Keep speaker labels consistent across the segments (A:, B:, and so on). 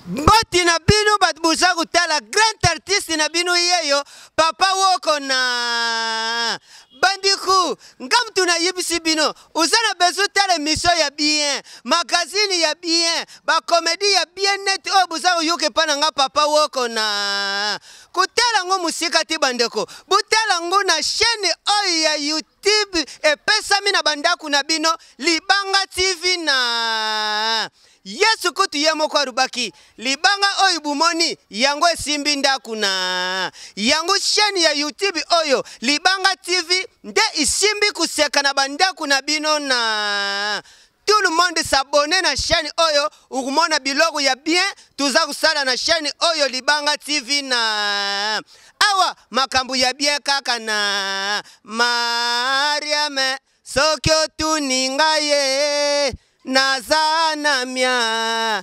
A: mboti na bino bato boza kotala grand artiste na bino yeyo papa woko na bandiku nga motu nayebisi bino oza na bezo tala emisio ya bien magazine ya bien bakomedi ya bien neti oyo boza koyoka epa na nga papa woko na kotala yango mosika te bandeko botala yango na chaîne oyo ya youtube tib epesami na bandako na bino libanga tv na yesu kutu ye moko alobaki libanga oyo bomoni yango esimbi ndako na yango sheni ya youtube oyo libanga tv nde isimbi koseka na bandako na bino na tout le monde s'abonne na chaîne oyo okomona biloko ya bien toza kosala na chaîne oyo libanga tv na awa makambo ya bien kaka na mariame soki otuni ngai ye naza na mia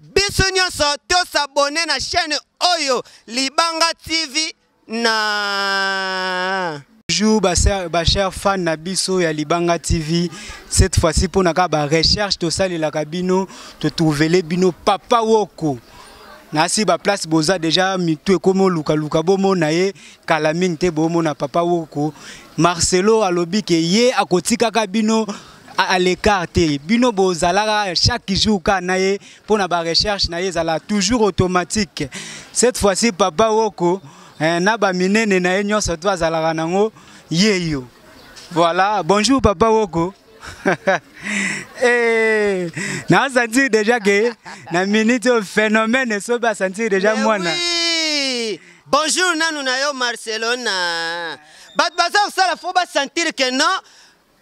A: biso nyonso tosabone na chaîne oyo libanga tv na Bonjour,
B: ba chers fans na biso ya Libanga TV. Cette fois-ci pour naka ba recherche to sali la kabino, to trouver bino papa woko. Na si ba place boza déjà mitu ekomo luka luka bomo na ye kala mingi te bomo na papa woko. Marcelo alobi ke ye akotika kabino à l'écart te bino bozalaka chaque jour kaka na ye mpo na barecherche na ye ezala toujours automatique cette fois-ci papa woko eh, na baminene na ye nyonso to azalaka nango yeyo voilà bonjour papa woko hey, eh, na sentir déjà que na minute oyo phénomène esobi asentir déjà mwana oui.
A: bonjour nanu na yo marcelona bato baza kosala fo basentir que non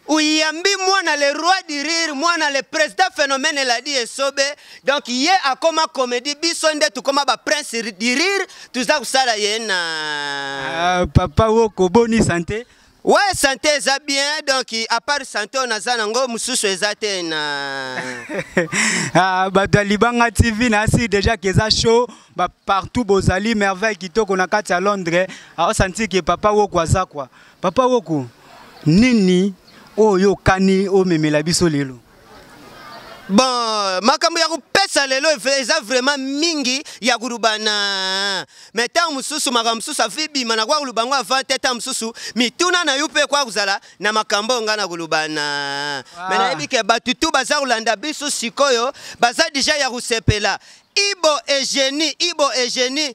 A: oyambi mwana le roi du rire mwana le président phénomène eladi esobe donc ye akoma comédie biso nde tokoma baprince du rire toza kosala ye na ah, papa woko
B: boni sante we ouais, sante
A: eza bien donc apart sante oyo naza nango mosusu eza te na ah,
B: bato ya libanga tv nasi déjà keza show bapartout bozali merveille kitoko na kati ya londres aosanti ah, ke papa woko aza kwa Papa Woko, nini oyo kani omemela biso lelo?
A: Bon, makambo ya kopesa lelo eza vraiment mingi ya kolobana me ntango mosusu makambo mosusu afi bima nakoya koloba yango avant te ntango mosusu mituna na yo mpe ekoya kozala na makambo oyo ngai na kolobana ah. me nayebi ke bato tu baza kolanda biso sikoyo baza deja ya kosepela ibo egenie ibo egenie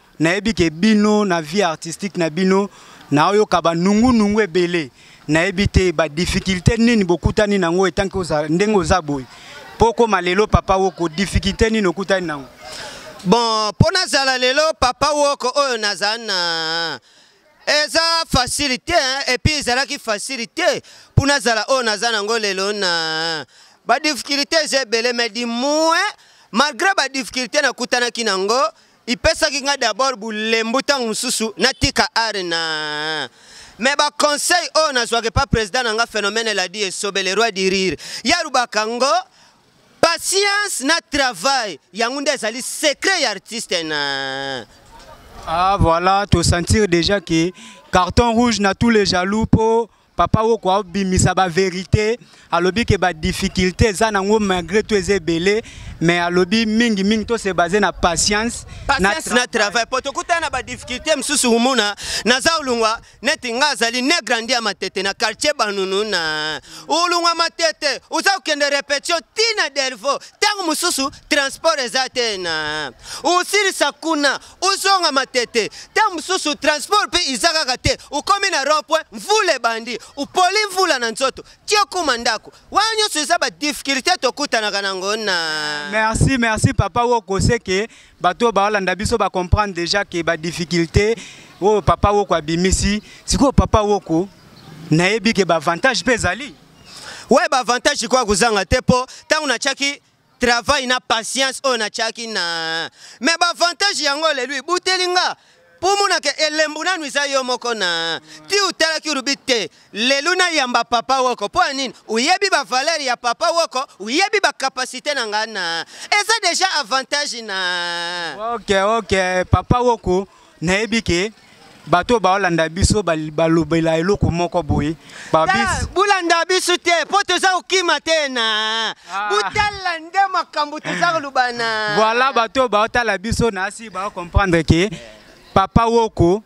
B: nayebi ke bino na vie artistique na bino naoyoka banungunungu ebele nayebi te badifficulté nini bokutani nango etanke ndenge oza boye mpo okoma lelo papa woko difficulté nini okutani nango bon
A: mpo nazala lelo papa woko oyo nazala na eza facile te epuis ezalaki facile te mpo nazala oyo naza nango lelo na badifficulté eza ebele mai dimue malgré badifficulté nakutanaki nango ipesaki ngai d'abord bolembu ntango mosusu natika are na me baconseil oyo nazwaka epa président na nga phénomène eladi esobe le roi du rire yarubaka ngo patience na travail yango nde ezali secret ya artiste na ah
B: voilà tosentir déjà ke carton rouge na tous les jaloux mpo papa woko abimisa ba verité alobi ke ba difficulté eza nango malgré tout eza ebele mais alobi mingi mingi to se base na patience na, na
A: travail po tokutana na ba difficulté mosusu omona naza olungwa neti nga azali ne grandi ya matete na quartier banunu na olungwa matete oza kokende repetition ti na delvo ntango mosusu transport eza te na osilisa kuna ozonga matete ta mosusu transport mpe iza kaka te okomi na rond-point mvula ebandi opoli mvula na nzoto ti okoma ndako wana nyonso eza badifficulté tokutanaka nango na merci merci papa
B: woko seke bato oyo baolanda biso bacomprendre déjà ke badifficulté oyo papa woko abimisi sikoyo papa woko nayebi ke baavantage mpe ezali we
A: baavantage ikoya kozanga te mpo ntango natyaki travail na patience oyo natiaki na me baavantage yango lelo ebuteli nga mpo omonaka elembo nanu eza yo moko na ti otalaki olobi te lelo nayamba papa woko mpo ya nini oyebi bavaleri ya papa woko oyebi bakapasite na ngai na eza deja avantage na ok ok
B: papa woko nayebi ke bato oyo baolanda biso balobela eloko moko boye bolanda biso
A: te mpo toza kokima te na ah. botala nde makambo toza koloba na voilà bato oyo
B: baotala biso na asi baocomprendre ke papa woko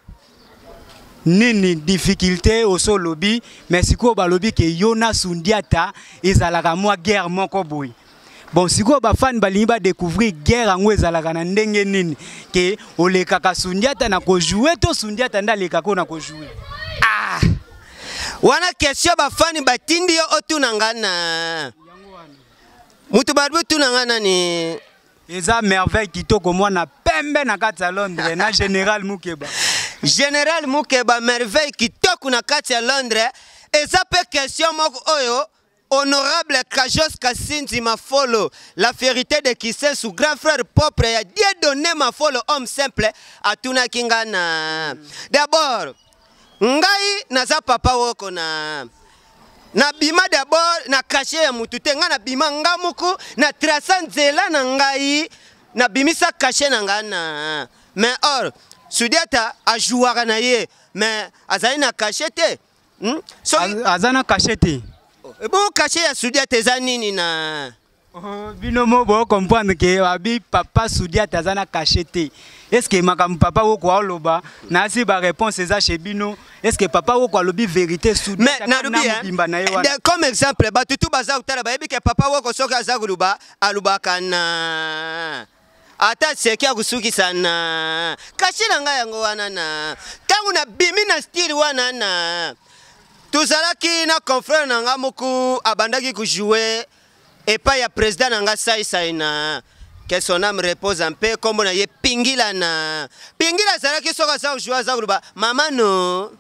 B: nini difficulté oso olobi mais sikoyo balobi ke yo na sundiata ezalaka mwa guerre moko boye bon sikoyo bafani balingi badécouvrir guerre yango ezalaka na ndenge nini ke olekaka sundiata na kojoue to sundiata nde alekaka oyo na kojoue ah.
A: wana question bafani batindi yo otuna nga na moto balobi otuna nga nani eza
B: merveille kitoko mwana pembe na kati ya londres na général mukeba général
A: mukeba merveille kitoko na kati ya londres eza mpe question moko oyo Honorable Kajos Kasinzi Mafolo, la fierté de Kisensu, grand frère propre ya Dieu donné Mafolo, homme simple, atunaki nga na. D'abord, ngai naza papa woko na na bima d'abord na kashe ya mutu te ngai na bima nga moko na trasa nzela na ngai na bimisa kashe na ngai na mais or sudiata ajouaka na ye mais azali na kashe te hmm? soki
B: aza na kashe te ebongo kashe
A: ya sudiate eza nini na oh, bino mo
B: bocomprendre ke abi papa sudiate aza na kashe te est ce que makambo papa woko aoloba nasi baréponse eza chez bino est ce que papa woko alobi vérité sudmobimba na
A: ye wana comme exemple bato tu baza kotala bayebi ke papa woko soki aza koloba alobaka na ata seki ya kosukisa na kashe na ngai yango wana na ntango nabimi na stile wana na tozalaki na confrere na ngai moko abandaki kojoue epai ya president na ngai saisai na que son âme repose en paix nkombo na ye pingila na pingila azalaki soki aza kojoue aza koloba mama no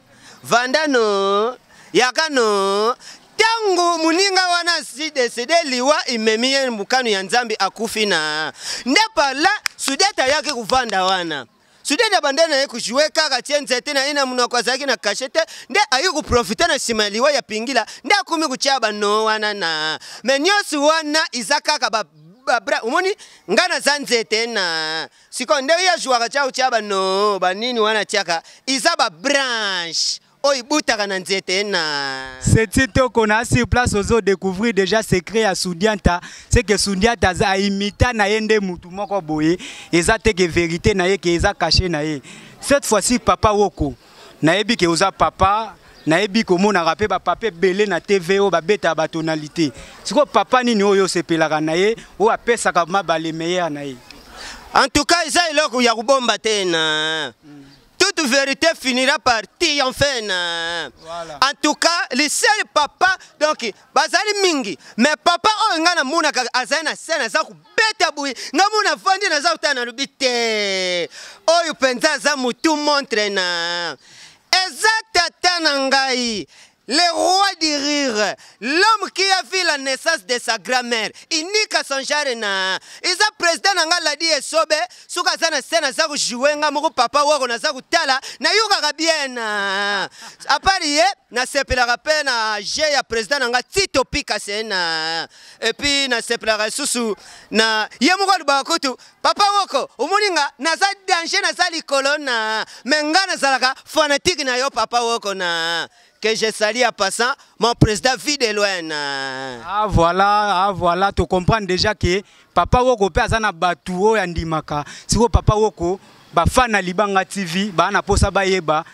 A: vanda no yaka no ntango moninga wana asi desede liwa imemi ye mokano ya nzambe akufi na nde parla sudete ayaki kovanda wana sudete abanda na ye kojue kaka tie nzete na ye na monoko azalaki na kashe te nde ayaki koprofite na nsima ya liwa ya pingila nde akomi kotya bano wana na me nyonso wana eza kaka ba babra omoni nga naza nzete na sikoyo nde ye ajuaka tya kotya bano banini wana atyaka eza babranche oyo ibutaka na nzete na seti toko na
B: sur place ozo découvrir déjà secret ya Sundiata c'est que Sundiata aza imita na ye nde mutu moko boye eza te que vérité na ye que eza caché na ye cette fois-ci papa woko nayebi ke oza papa nayebi komonaka mpe bapapa ebele na tv oyo babeta ya batonalité sikoyo papa nini oyo osepelaka na ye oyo apesaka mabale meilleur na ye en tout cas
A: eza eloko ya kobomba te na mm. toute vérité finira par triompher na voilà. en tout cas le seul papa donc bazali mingi mais papa oyo oh, ngai namonaka azali na scène aza kobeta boye ngai mona vandi naza kotala nalobi te oyo mpenza aza motu montre na eza tata na ngai Le roi du rire, l'homme qui a vu la naissance de sa grand-mère, unique à son genre na. Iza président na nga ladi esobe, suka aza na scène aza kojouer nga moko papa wako naza kotala, nayokaka bien. À part ye, nasepelaka mpe na jeu ya président na nga Tito Pika Sena. Et puis nasepelaka lisusu na ye moko alobaka kutu papa woko omoni nga naza danger naza likolo na me nga nazalaka fanatique na yo papa woko na que je sali à passant mon président vie de loin na ah
B: voilà ah voilà to comprendre déjà que papa woko mpe aza na bato oyo andimaka sikoyo papa woko bafana libanga tv baa na mposa bayeba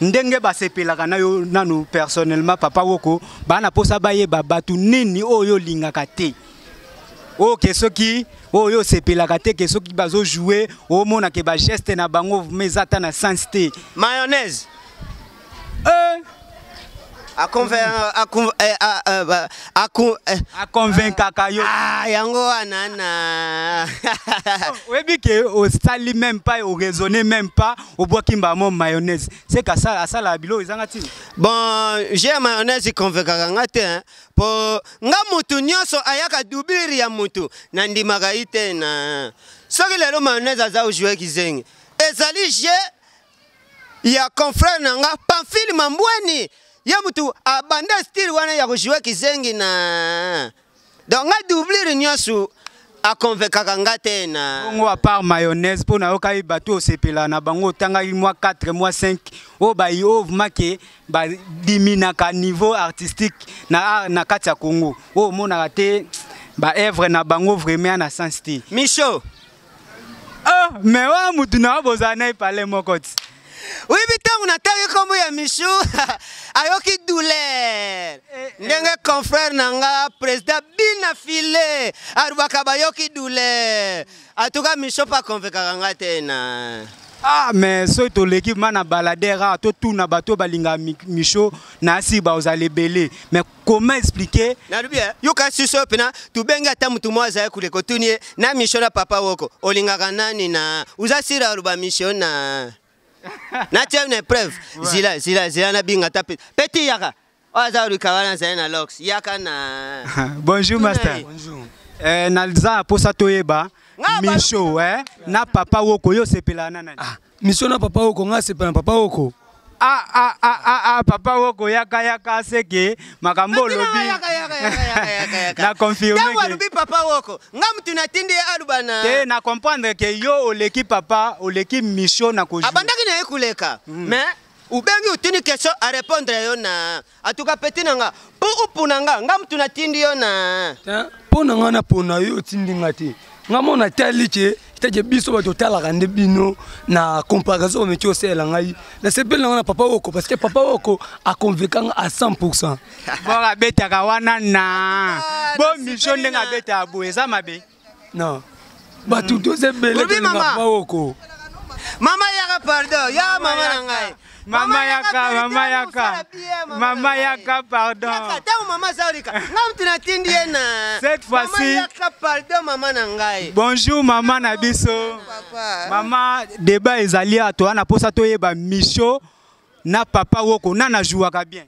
B: ndenge basepelaka na yo nanu personnellement papa woko baa na mposa bayeba bato nini oyo olingaka te oyo ke soki oyo osepelaka te ke soki bazojoue omona ke bageste na bango vrma eza ata na sens te mayonnaise eh. A convaincaka yo ah, yango wana
A: na
B: oh, oyebi ke osali même pas oraisonne même pas obwaki mbamo mayonnaise se kasala asalaka biloko ezanga ntina bon je
A: ya mayonnaise econvaincaka nga te hein. po nga mutu nyonso ayaka dublire ya mutu nandimaka ye te na soki lelo mayonnaise aza ojue kizengi ezali je ya confrère na nga Pamphile Mambweni ye mutu abanda style wana ya kojoue kizengi na donc nga doublure nyonso akonvekaka nga te na bongo apart mayonnaise
B: mpo nayokaki bato osepela na bango otangaki mwa 4 mwa 5 oyo bayi oyo vmake badiminaka niveau artistique na, na kati ya congo oyo omonaka te baevre na bango vraiment na sens te micho Oh, mais wa mutu na boza na ipale moko ti. Oui, bitangu
A: na tangi kombo ya Michou, ayoki douleur. Eh, eh. Ndenge confrère na nga président Bina File, arubaka bayoki douleur. En tout cas, Michou pa convaincaka nga te na. Ah, mais
B: ce to l'équipe mana baladera, to tuna bato balinga Michou, na si ba ozale belé. Mais comment expliquer nalubi eh, yoka
A: suso pena tubenga ata mutu mwa azali kule kotuni ye na mission na papa woko olingaka nani na uza sira oluba mission na na tia une preuve zila zila zila na binga ta peti yaka oyo aza oluka wana azali na lox yaka na bonjour master
B: bonjour eh,
C: naza
B: mposa toyeba misho eh, na papa woko yo osepelaka na nani ah. mission na papa
C: oko ngai asepela na papa oko ah, ah, ah,
B: ah, ah, papa woko yaka yaka seke makambo olobi na confirme ntango alobi papa
A: woko nga motu natindi ye aluba na te na comprendre
B: ke yo oleki papa oleki mission na kozwi abandaki na ye koleka
A: mm. mais ubengi utuni question arépondre yo na En tout cas, petit nanga, po opona nga, nga mutu na tindi yo na. Hein? Po na nga na
C: pona yo tindi nga te. Nga mo na tali ke teke biso ba totala kande bino na comparaison mais tu sais la ngai. Na sepel na nga papa oko parce que papa oko a convaincu nga à 100%. Bora beta
B: ka wana na. Bo mission ndenga beta bo eza mabe. Non.
C: Bato mm. toza ebele tolinga baoko. Mama
A: yaka pardon, ya mama na ngai. Mama yaka,
B: mama yaka. Mama yaka pardon. Yaka tango mama Zaurika.
A: Nga mtu natindi ye na.
B: Cette fois-ci. Mama yaka pardon mama
A: na ngai. Bonjour mama na
B: biso. Papa. Mama débat ezali ato wana posa toyeba mission na papa woko nana jouaka bien.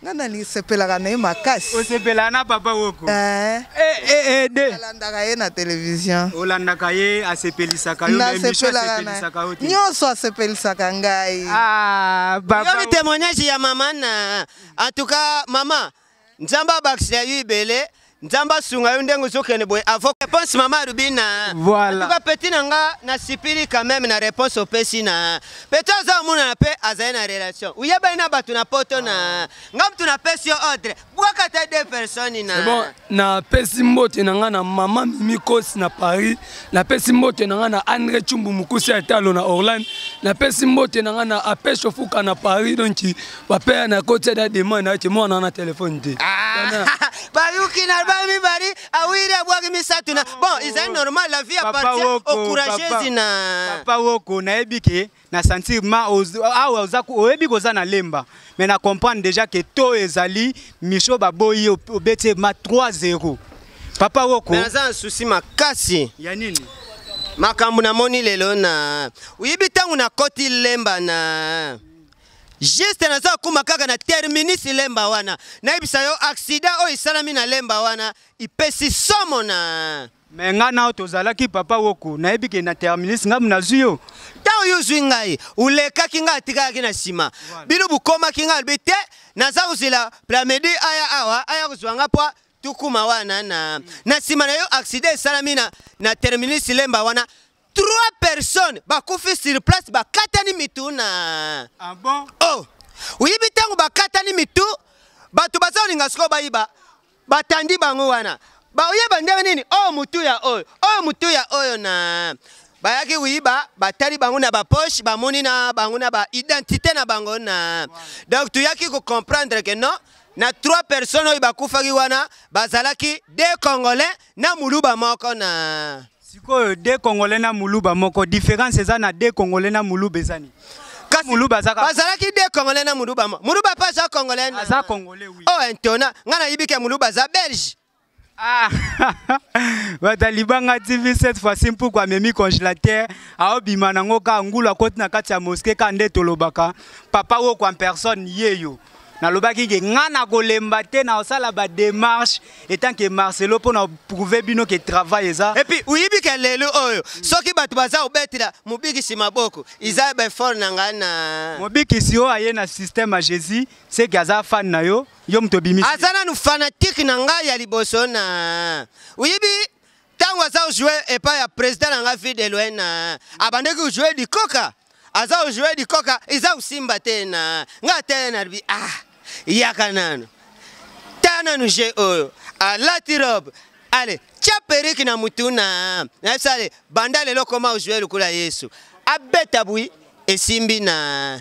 B: nga nasepelaka
D: na ye makasi osepelaka
B: na
D: papa
B: woko eh. Eh, eh,
D: de alandaka ye na televizio olandaka ye
B: asepelisaka yo nasepelisaka yo te nyonso asepelisaka
D: ngai
B: ah, yobi témoignage ya mama
A: na en tout cas mama nzambe abakisa yo ibele nzambe asunga yo ndenge ozokende boye avoc réponse mama alubi na voilà. tuka peti na nga nasipili quand même na réponse opesi na peti aza omonana mpe azali na relation oyebani na bato na poto na nga motu napesi yo ordre bwaka ta deux personnes na bon napesi
C: mbote na nga na mama mimi kosi na paris napesi mbote na nga na andre cumbu mokusi ya talo na orlande napesi mbote na nga na apeshofuka na paris donki papa ya nakoti ada demande na ye te mwana wana telefone te ah, bayuki
A: na album mibali awiri abwaki misato na bon ezali normal la vie appartient au courageuse na papa woko nayebi
B: ke na sentir ma awa oza oyebi koza na lemba mais na comprendre déjà ke to ezali micho baboyi obeti ma 3 0 papa woko naza na souci
A: makasi ya nini
B: makambo
A: namoni lelo na oyebi ntango nakoti lemba na Juste naza kokoma kaka na terminus lemba wana nayebisa yo accident oyo esalami na lemba wana ipesi somo na me ngai nao
B: tozalaki papa woko nayebi ke na terminus ngai nazwi yo ntango yo ozwi
A: ngai olekaki ngai atikalaki na nsima bino bokomaki ngai alobi te naza kozela plamedi aya awa aya kozwa ngai mpo tukuma wana na na nsima na yo aksida esalami na, na terminus lemba wana trois personnes bakufi sur place bakatani mitu na ah bon?
B: oh oyebi
A: ntango bakatani mitu bato baza kolinga sikoyo bayiba batandi bango wana baoyeba ndenge nini oyo oh, motu ya oyo oh, oyo oh, motu ya oyo na bayaki koyiba batali bango na bapoche bamoni na bango na baidentité na bango na donc toyaki kocomprendre ke non na trois personnes oyo bakufaki wana bazalaki de congolais na muluba moko na
B: sikoyo de congolais na muluba moko différence
A: eza
B: na de congolais na muluba eza nini kasi muluba azaka bazalaki de congolais na
A: muluba muluba mpe aza congolais aza congolais
B: oui oh entona ngai nayibi
A: ke muluba aza belge
B: Ah, batalibanga tv cette fois-ci mpuku amemi congélateur aobima nango ka ngulu akoti na kati ya moske ka nde tolobaka papa woko en personne yeyo nalobaki ke nga nakolemba te naosala bademarche etant ke marcelo mpo na prouve bino ke travail eza epuis oyebi ke lelo
A: oyo soki bato baza kobetela mobikisi maboko eza befort na ngai na mobikisi oyo aye
B: na système ya jésus seke aza fan na yo yo moto obimisi aza nanu fanatike
A: na ngai ya liboso na oyebi ntango aza kojoue epai ya president na ngai fille de loin na abandaki kojoue dikoka aza kojoue dikoka eza kosimba te na ngai atele na libi ah yaka nano ta nano je oyo alati robe ale tya periki na motu na nayebisi ale banda lelo koma kojoue lokola yesu abeta bwi esimbi na